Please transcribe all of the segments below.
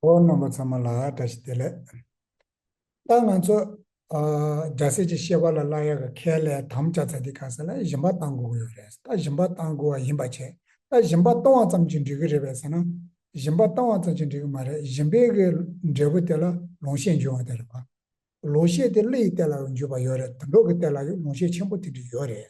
འོ་རྣམ་པ་ཚང་མ་ལ་བཀྲ་ཤིས་བདེ་ལེགས། ད་ང་ཚོ་རྒྱ་སེ་ཀྱི་ཤེས་པ་ལ་བླ་ཡག་གི་ཁལ་ལས་དམ་བཅའ་ཚ་དེ་ག་ས་ལ་གཞིན་པ་བཏང་དགོས་ཀྱི་ཡོད་རེད་ད་གཞིན་པ་བཏང་དགོས་བ་ཡིན་པ་བྱས་ད་གཞིན་པ་གཏོང་བ་ཙམ་གྱིས་འགྲིག་གི་རེད་པས་ཟེར་ན་གཞིན་པ་བཏང་བ་ཙམ་གྱིས་འགྲིག་གི་མ་རེད་གཞིན་པའི་གི་འབྲས་བུ་དེ་ལ་ལོང་ཤས་འཇུས་བ་དེ་རེད་བ། ལོ་ཤས་དེ་གླུ་ཡི་སྟེ་ལ་འཇུས་བ་ཡོད་རེད་དོན་གྲོགས་ཀྱི་སྟེ་ལ་ཡུ་ལོང་ཤས་ཆེན་པོ་དེ་འདྲི་ཡོད་རེད།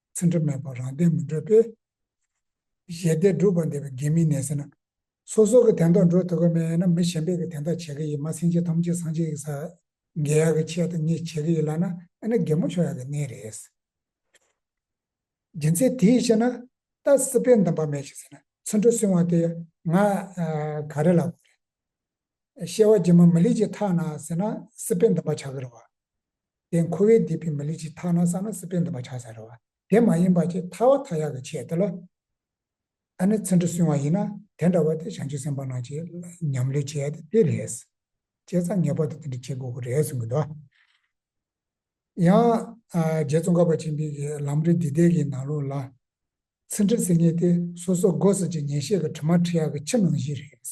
ཚེ་འཕྲལ་མེད་པར་རང་བསྟན་མི་འགྲོལ་པས། ཞལ་བདེ་སྒྲུབ་པར་འདོད་པའི་དགེ་མི་གནས་ཟེར་ན། སོ་སོ་གི་དན་ཐོག་འགྲོ་ཐུབ་ཀ་མེད་ན་མི་གཞན་པས་གི་དན་ཐོག་བྱེད་ཀི་ཡིན་མ་སེང་ཆེན་ཐོམ་ཆེན་སང་ཆེན་ཡིག་ཚགས། འགལ་ཡག་གི་ཆེད་དུ་གཉིས་བྱེད་ཀི་ཡིན་ལགས་ན་ཨེ་ན་དགེ་མོ་ཆོག་ཡག་གི་གནས་རེད། རྒྱུ་མཚན་དེའི་ཕྱིར་ན། རྟ་སྲིད་པས་འདམ་པ་མེད་ཅིག་ཟེར་ན་ཚུར་འགྲོ་སྲིང་བ་དེ་ང། ག་རེ་ལ་དགོས་རེད། ཤེས་བ་སྒྱིད་མོ་མི་ལེགས་ཅིག་ཐག་ན་ཟེར་ན་སྲིད་པས་འདམ་པ་ཆག་གི་རེད་བ། དེ་འཁོར་བའི་སྡེ་པའི་མི་ལུས་ཀྱི་མཐའ་ན་བསམས་ན་སྲིད་པའི་འདུན་པ་ཆགས་ས་རེད་བ། དེ་མ་ཡིན་པ་ཀྱི་མཐའ་བ་མཐའ་ཡག་གི་ཆེད་དུ་ལ། ད་ནི་ཚིག་འབྲུ་སྲུང་བ་ཡིན་ན་དེ་འདྲ་བ་དེ་བྱང་ཆུབ་སེམས་དཔའ་རྣམས་ཀྱིས་ཉམས་ལེན་བྱེད་ཡ་དེ་རེད། བྱས་ཙང་ངེས་པར་དུ་དེ་འདྲ་བྱེད་དགོས་ཀྱི་རེད་གསུང་གི་འདུག། ཡང། རྗེ་ཙོང་ཁ་པ་ཆེན་པོའི་གི་ལམ་རིགས་འདི་ལྡན་གྱི་ནང་ལུགས་ལ། ཚིག་འབྲུ་ཟེར་ཉེས་དེ་སོ་སོ་སྒོ་ཟེར་གྱི་ཉན་བཤད་གི་དྲི་མ་ཁྲི་ཡག་གི་ཕྱི་ནང་བཞི་རེད།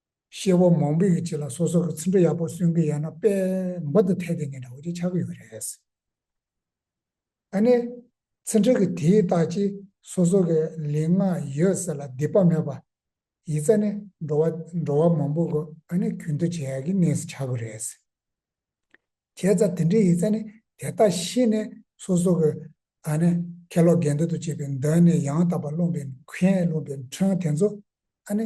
ཤེས་བ་མང་པོ་ཡོད་ཅེས་ལ་སོ་སོར་ཚིག་འགྲོ་ཡག་པོ་གསུང་གི་ཡོད་ན་དཔེ་འབའ་དུ་ཐད་དེ་ནས་འདྲ་བོ་ཅིག་ཆགས་ཀྱི་ཡོད་རེད། ད་ནི། ཚིག་འགྲོ་གི་དེའི་རྟགས་ཀྱིས་སོ་སོ་གི་ལས་ལྔ་ཡོད་ཟེར་ལ་སྡིག་པ་མེད་པ། ཡིག་རྩ་ནི་འགྲོ་བ་འགྲོ་བ་མང་པོ་གོ་ད་ནི་རྒྱུན་དུ་བྱས་ཀྱི་གནས་སུ་ཆགས་དགོས་རེད། བྱས་ཙང་དེ་འདྲའི་ཡིག་རྩ་ནི་དེ་རྟགས་ཤེས་ནས་སོ་སོ་གི་ད་ནི་ཁ་ལོ་གན་དུ་དུ་བྱས་པའི་མདོ་ནས་ཡང་དག་པར་རློམ་པའི་མཁན་རློམ་པའི་འཕྲང་དེ་ཚོ་ད་ནི་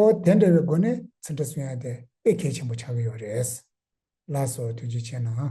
ཨོ། དེ་འདྲ་བའི་སྒོ་ནས་ཚིག་འདྲ་སུ་ཡང་དེ་དཔེ་གལ་ཆེན་པོ་ཆགས་ཀྱི་ཡོད་རེད། ལགས་སོ་ཐུགས་རྗེ་ཆེ་གནང།